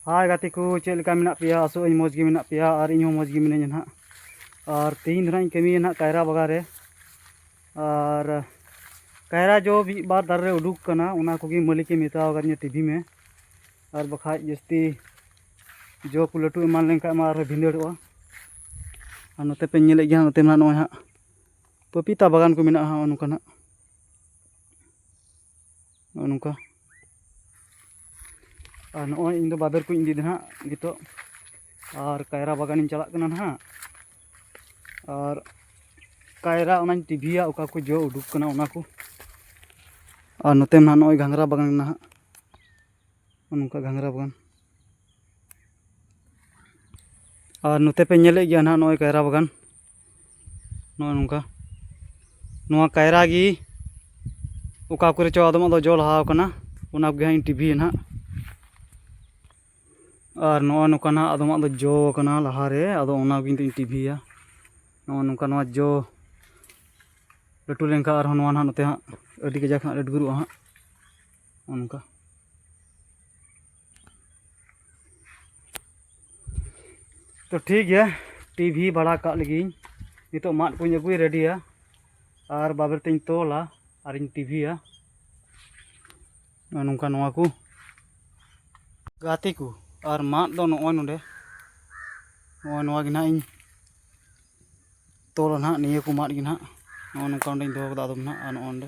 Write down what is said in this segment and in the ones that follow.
ᱦᱟᱭ ᱜᱟᱛᱮ ᱠᱚ ᱪᱮᱫ ᱞᱮᱠᱟ ᱢᱮᱱᱟᱜ ᱯᱮᱭᱟ ᱟᱥᱚᱜ ᱟᱹᱧ ᱢᱚᱡᱽ ᱜᱮ ᱢᱮᱱᱟᱜ ᱯᱮᱭᱟ ᱟᱨ ᱤᱧ ᱦᱚᱸ ᱢᱚᱡᱽ ᱜᱮ ᱢᱤᱱᱟᱹᱧᱟ ᱱᱟᱦᱟᱜ ᱟᱨ ᱛᱮᱦᱮᱧ ᱫᱚ ᱱᱟᱦᱟᱜ ᱤᱧ ᱠᱟᱹᱢᱤᱭᱟ ᱱᱟᱦᱟᱜ ᱠᱟᱭᱨᱟ ᱵᱟᱜᱟᱱ ᱨᱮ ᱟᱨ ᱠᱟᱭᱨᱟ ᱡᱚ ᱢᱤᱫ ᱵᱟᱨ ᱫᱟᱨᱮ ᱨᱮ ᱩᱰᱩᱠ ᱠᱟᱱᱟ ᱚᱱᱟ ᱠᱚᱜᱮ ᱢᱟᱹᱞᱤᱠᱮ ᱢᱮᱛᱟᱣ ᱟᱠᱟᱫᱤᱧᱟ ᱛᱤᱵᱷᱤ ᱢᱮ ᱟᱨ ᱵᱟᱠᱷᱟᱡ ᱡᱟᱹᱥᱛᱤ ᱡᱚ ᱠᱚ ᱞᱟᱹᱴᱩ ᱮᱢᱟᱱ ᱞᱮᱱᱠᱷᱟᱡ ᱢᱟ ᱟᱨᱦᱚᱸ ᱵᱷᱤᱸᱫᱟᱹᱲᱚᱜᱼᱟ ᱟᱨ ᱱᱚᱛᱮ ᱯᱮ ᱧᱮᱞᱮᱫ ᱜᱮᱭᱟ ᱱᱚᱛᱮ ᱢᱟ ᱱᱚᱜᱼᱚᱭ ᱦᱟᱸᱜ ᱯᱟᱯᱤᱛᱟ ᱵᱟᱜᱟᱱ ᱠᱚ ᱢᱮᱱᱟᱜᱼᱟ ᱱᱚᱜᱼᱚ ᱱᱚᱝᱠᱟᱱᱟᱜ ᱱᱚᱜᱼᱚ ᱱᱚᱝᱠᱟ ᱟᱨ ᱱᱚᱜᱼᱚᱭ ᱤᱧᱫᱚ ᱵᱟᱵᱮᱨ ᱠᱚᱧ ᱤᱫᱤᱭᱮᱫᱟ ᱦᱟᱸᱜ ᱱᱤᱛᱚᱜ ᱟᱨ ᱠᱟᱭᱨᱟ ᱵᱟᱜᱟᱱᱤᱧ ᱪᱟᱞᱟᱜ ᱠᱟᱱᱟ ᱦᱟᱸᱜ ᱟᱨ ᱠᱟᱭᱨᱟ ᱚᱱᱟᱧ ᱴᱤᱵᱷᱤᱭᱟ ᱚᱠᱟ ᱠᱚ ᱡᱚ ᱩᱰᱩᱠ ᱠᱟᱱᱟ ᱚᱱᱟ ᱠᱚ ᱟᱨ ᱱᱚᱛᱮ ᱢᱟ ᱱᱚᱜᱼᱚᱭ ᱜᱷᱟᱸᱜᱽᱨᱟ ᱵᱟᱜᱟᱱ ᱢᱮᱱᱟᱜᱼᱟ ᱦᱟᱸᱜ ᱱᱚᱝᱠᱟ ᱜᱷᱟᱸᱜᱽᱨᱟ ᱵᱟᱜᱟᱱ ᱟᱨ ᱱᱚᱛᱮ ᱯᱮ ᱧᱮᱞᱮᱫ ᱜᱮᱭᱟ ᱦᱟᱸᱜ ᱱᱚᱜᱼᱚᱭ ᱠᱟᱭᱨᱟ ᱵᱟᱜᱟᱱ ᱱᱚᱜᱼᱚᱭ ᱱᱚᱝᱠᱟ ᱱᱚᱣᱟ ᱠᱟᱭᱨᱟ ᱜᱮ ᱚᱠᱟ ᱠᱚᱨᱮ ᱪᱚ ᱟᱫᱚᱢᱟᱜ ᱫᱚ ᱡᱚ ᱞᱟᱦᱟᱣ ᱠᱟᱱᱟ ᱚᱱᱟ ᱠᱚᱜᱮ ᱦᱟᱸᱜ ᱤᱧ ᱴᱤᱵᱷᱤᱭᱟ ᱱᱟᱜ ᱟᱨ ᱱᱚᱜᱼᱚᱭ ᱱᱚᱝᱠᱟ ᱱᱟᱜ ᱟᱫᱚᱢᱟᱜ ᱫᱚ ᱡᱚ ᱠᱟᱱᱟ ᱞᱟᱦᱟ ᱨᱮ ᱟᱫᱚ ᱚᱱᱟ ᱠᱚᱜᱮ ᱱᱤᱛᱚᱜ ᱤᱧ ᱴᱤᱵᱷᱤᱭᱟ ᱱᱚᱜᱼᱚᱭ ᱱᱚᱝᱠᱟ ᱱᱚᱣᱟ ᱡᱚ ᱞᱟᱹᱴᱩ ᱞᱮᱱᱠᱷᱟᱱ ᱟᱨᱦᱚᱸ ᱱᱚᱣᱟ ᱱᱟᱜ ᱱᱚᱛᱮ ᱦᱟᱸᱜ ᱟᱹᱰᱤ ᱠᱟᱡᱟᱠ ᱦᱟᱸᱜ ᱞᱟᱹᱴᱩ ᱜᱚᱫᱚᱜᱼᱟ ᱦᱟᱸᱜ ᱱᱚᱜᱼᱚᱭ ᱱᱚᱝᱠᱟ ᱛᱚ ᱴᱷᱤᱠ ᱜᱮᱭᱟ ᱴᱤᱵᱷᱤ ᱵᱟᱲᱟ ᱠᱟᱜ ᱞᱟᱹᱜᱤᱫ ᱱᱤᱛᱚᱜ ᱢᱟᱫ ᱠᱚᱧ ᱟᱹᱜᱩᱭ ᱨᱮᱰᱤᱭᱟ ᱟᱨ ᱵᱟᱵᱮᱨ ᱛᱮᱧ ᱛᱚᱞᱟ ᱟᱨᱤᱧ ᱴᱤᱵᱷᱤᱭᱟ ᱱᱚᱝᱠᱟ ᱱᱚᱣᱟ ᱠᱚ ᱜᱟᱛᱮ ᱠᱚ ᱟᱨ ᱢᱟᱫ ᱫᱚ ᱱᱚᱜᱼᱚᱭ ᱱᱚᱰᱮ ᱱᱚᱜᱼᱚᱭ ᱱᱚᱣᱟ ᱜᱮ ᱱᱟᱦᱟᱜ ᱤᱧ ᱛᱚᱞᱟ ᱱᱟᱦᱟᱜ ᱱᱤᱭᱟᱹ ᱠᱚ ᱢᱟᱫ ᱜᱮ ᱱᱟᱦᱟᱜ ᱱᱚᱜᱼᱚ ᱱᱚᱝᱠᱟ ᱚᱸᱰᱮᱧ ᱫᱚᱦᱚ ᱠᱟᱫᱟ ᱟᱫᱚᱢ ᱱᱟᱦᱟᱜ ᱟᱨ ᱱᱚᱜᱼᱚ ᱱᱚᱰᱮ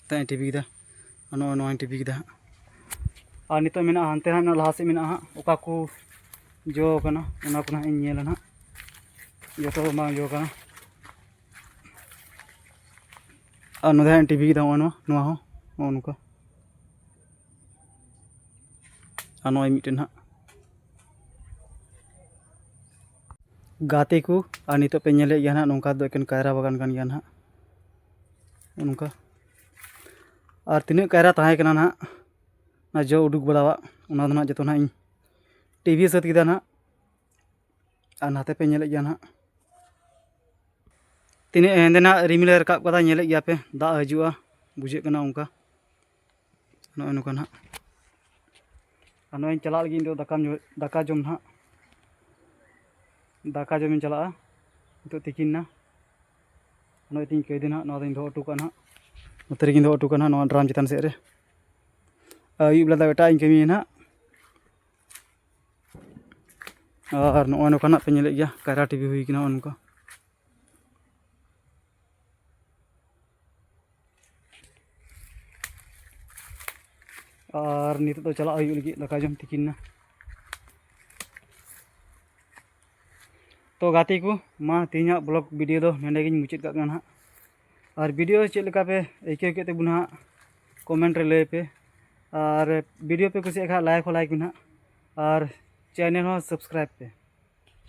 ᱱᱤᱛᱚᱜ ᱤᱧ ᱴᱤᱯᱤ ᱠᱮᱫᱟ ᱱᱚᱜᱼᱚᱭ ᱱᱚᱣᱟᱧ ᱴᱤᱯᱤ ᱠᱮᱫᱟ ᱦᱟᱸᱜ ᱟᱨ ᱱᱤᱛᱚᱜ ᱢᱮᱱᱟᱜᱼᱟ ᱦᱟᱱᱛᱮ ᱦᱟᱸᱜ ᱞᱟᱦᱟ ᱥᱮᱫ ᱢᱮᱱᱟᱜᱼᱟ ᱦᱟᱸᱜ ᱚᱠᱟ ᱠᱚ ᱡᱚ ᱠᱟᱱᱟ ᱚᱱᱟ ᱠᱚ ᱦᱟᱸᱜ ᱤᱧ ᱧᱮᱞᱟ ᱦᱟᱸᱜ ᱡᱚᱛᱚ ᱫᱚ ᱵᱟᱝ ᱡᱚ ᱠᱟᱱᱟ ᱟᱨ ᱱᱚᱰᱮ ᱦᱟᱸᱜ ᱤᱧ ᱴᱤᱯᱤ ᱠᱮᱫᱟ ᱱᱚᱜᱼᱚᱭ ᱱᱚᱣᱟ ᱱᱚᱣᱟ ᱦᱚᱸ ᱱᱚᱜᱼᱚ ᱱᱚᱝᱠᱟ ᱟᱨ ᱱᱚᱜᱼᱚᱭ ᱢᱤᱫᱴᱮᱱ ᱦᱟᱸᱜ ᱜᱟᱛᱮ ᱠᱚ ᱟᱨ ᱱᱤᱛᱚᱜ ᱯᱮ ᱧᱮᱞᱮᱫ ᱜᱮᱭᱟ ᱦᱟᱸᱜ ᱱᱚᱝᱠᱟ ᱫᱚ ᱮᱠᱮᱱ ᱠᱟᱭᱨᱟ ᱵᱟᱜᱟᱱ ᱠᱟᱱ ᱜᱮᱭᱟ ᱦᱟᱸᱜ ᱚᱱᱠᱟ ᱟᱨ ᱛᱤᱱᱟᱹᱜ ᱠᱟᱭᱨᱟ ᱛᱟᱦᱮᱸ ᱠᱟᱱᱟ ᱱᱟᱦᱟᱜ ᱚᱱᱟ ᱡᱚ ᱩᱰᱩᱠ ᱵᱟᱲᱟᱣᱟᱜ ᱚᱱᱟ ᱫᱚ ᱱᱟᱦᱟᱜ ᱡᱚᱛᱚ ᱱᱟᱦᱟᱜ ᱤᱧ ᱴᱤᱵᱷᱤ ᱥᱟᱹᱛ ᱠᱮᱫᱟ ᱱᱟᱦᱟᱜ ᱟᱨ ᱱᱟᱛᱮ ᱯᱮ ᱧᱮᱞᱮᱫ ᱜᱮᱭᱟ ᱱᱟᱦᱟᱜ ᱛᱤᱱᱟᱹᱜ ᱦᱮᱸᱫᱮ ᱱᱟᱦᱟᱜ ᱨᱤᱢᱤᱞᱮ ᱨᱟᱠᱟᱵ ᱠᱟᱫᱟ ᱧᱮᱞᱮᱫ ᱜᱮᱭᱟᱯᱮ ᱫᱟᱜ ᱦᱤᱡᱩᱜᱼᱟ ᱵᱩᱡᱷᱟᱹᱜ ᱠᱟᱱᱟ ᱚᱱᱠᱟ ᱱᱚᱜᱼᱚᱭ ᱱᱚᱝᱠᱟ ᱱᱟᱦᱟᱜ ᱟᱨ ᱱᱚᱜᱼᱚᱭ ᱪᱟᱞᱟᱜ ᱞᱟᱹᱜᱤᱫ ᱤᱧ ᱫᱚ ᱫᱟᱠᱟᱢ ᱫᱟᱠᱟ ᱡᱚᱢ ᱱᱟᱦᱟᱜ ᱫᱟᱠᱟ ᱡᱚᱢᱤᱧ ᱪᱟᱞᱟᱜᱼᱟ ᱱᱤᱛᱚᱜ ᱛᱤᱠᱤᱱ ᱮᱱᱟ ᱱᱚᱜᱼᱚᱭ ᱛᱤᱧ ᱠᱟᱹᱭᱫᱟᱹ ᱱᱟᱦᱟᱜ ᱱᱚᱣᱟ ᱫᱚᱧ ᱫᱚᱦᱚ ᱦᱚᱴᱚ ᱠᱟᱜᱼᱟ ᱱᱟᱦᱟᱜ ᱱᱚᱛᱮ ᱨᱮᱜᱮᱧ ᱫᱚᱦᱚ ᱦᱚᱴᱚ ᱠᱟᱜᱼᱟ ᱱᱟᱦᱟᱜ ᱱᱚᱣᱟ ᱰᱨᱟᱢ ᱪᱮᱛᱟᱱ ᱥᱮᱫ ᱨᱮ ᱟᱹᱭᱩᱵ ᱵᱮᱞᱟ ᱫᱚ ᱮᱴᱟᱜ ᱤᱧ ᱠᱟᱹᱢᱤᱭᱟ ᱱᱟᱦᱟᱜ ᱟᱨ ᱱᱚᱜᱼᱚᱭ ᱱᱚᱝᱠᱟ ᱱᱟᱦᱟᱜ ᱯᱮ ᱧᱮᱞᱮᱫ ᱜᱮᱭᱟ ᱠᱟᱭᱨᱟ ᱴᱤᱵᱷᱤ ᱦᱩᱭ ᱠᱟᱱᱟ ᱱᱚᱜᱼᱚᱭ ᱱᱚᱝᱠᱟ ᱟᱨ ᱱᱤᱛᱚᱜ ᱫᱚ ᱪᱟᱞᱟᱜ ᱦᱩᱭᱩᱜ ᱞᱟᱹᱜᱤᱫ ᱫᱟᱠᱟ ᱡᱚᱢ ᱛᱤᱠᱤᱱ ᱱᱟ ᱛᱚ ᱜᱟᱛᱮ ᱠᱚ ᱢᱟ ᱛᱮᱦᱮᱧᱟᱜ ᱵᱞᱚᱜ ᱵᱷᱤᱰᱤᱭᱳ ᱫᱚ ᱱᱚᱸᱰᱮ ᱜᱤᱧ ᱢᱩᱪᱟᱹᱫ ᱠᱟᱜ ᱠᱟᱱᱟ ᱦᱟᱸᱜ ᱟᱨ ᱵᱷᱤᱰᱤᱭᱳ ᱪᱮᱫ ᱞᱮᱠᱟ ᱯᱮ ᱟᱹᱭᱠᱟᱹᱣ ᱠᱮᱫ ᱛᱟᱵᱚᱱᱟ ᱦᱟᱸᱜ ᱠᱚᱢᱮᱱᱴ ᱨᱮ ᱞᱟᱹᱭ ᱯᱮ ᱟᱨ ᱵᱷᱤᱰᱤᱭᱳ ᱯᱮ ᱠᱩᱥᱤᱭᱟᱜ ᱠᱷᱟᱱ ᱞᱟᱭᱤᱠ ᱦᱚᱸ ᱞᱟᱭᱤᱠ ᱢᱮ ᱦᱟᱸᱜ ᱟᱨ ᱪᱮᱱᱮᱞ ᱦᱚᱸ ᱥᱟᱵᱥᱠᱨᱟᱭᱤᱵᱽ ᱯᱮ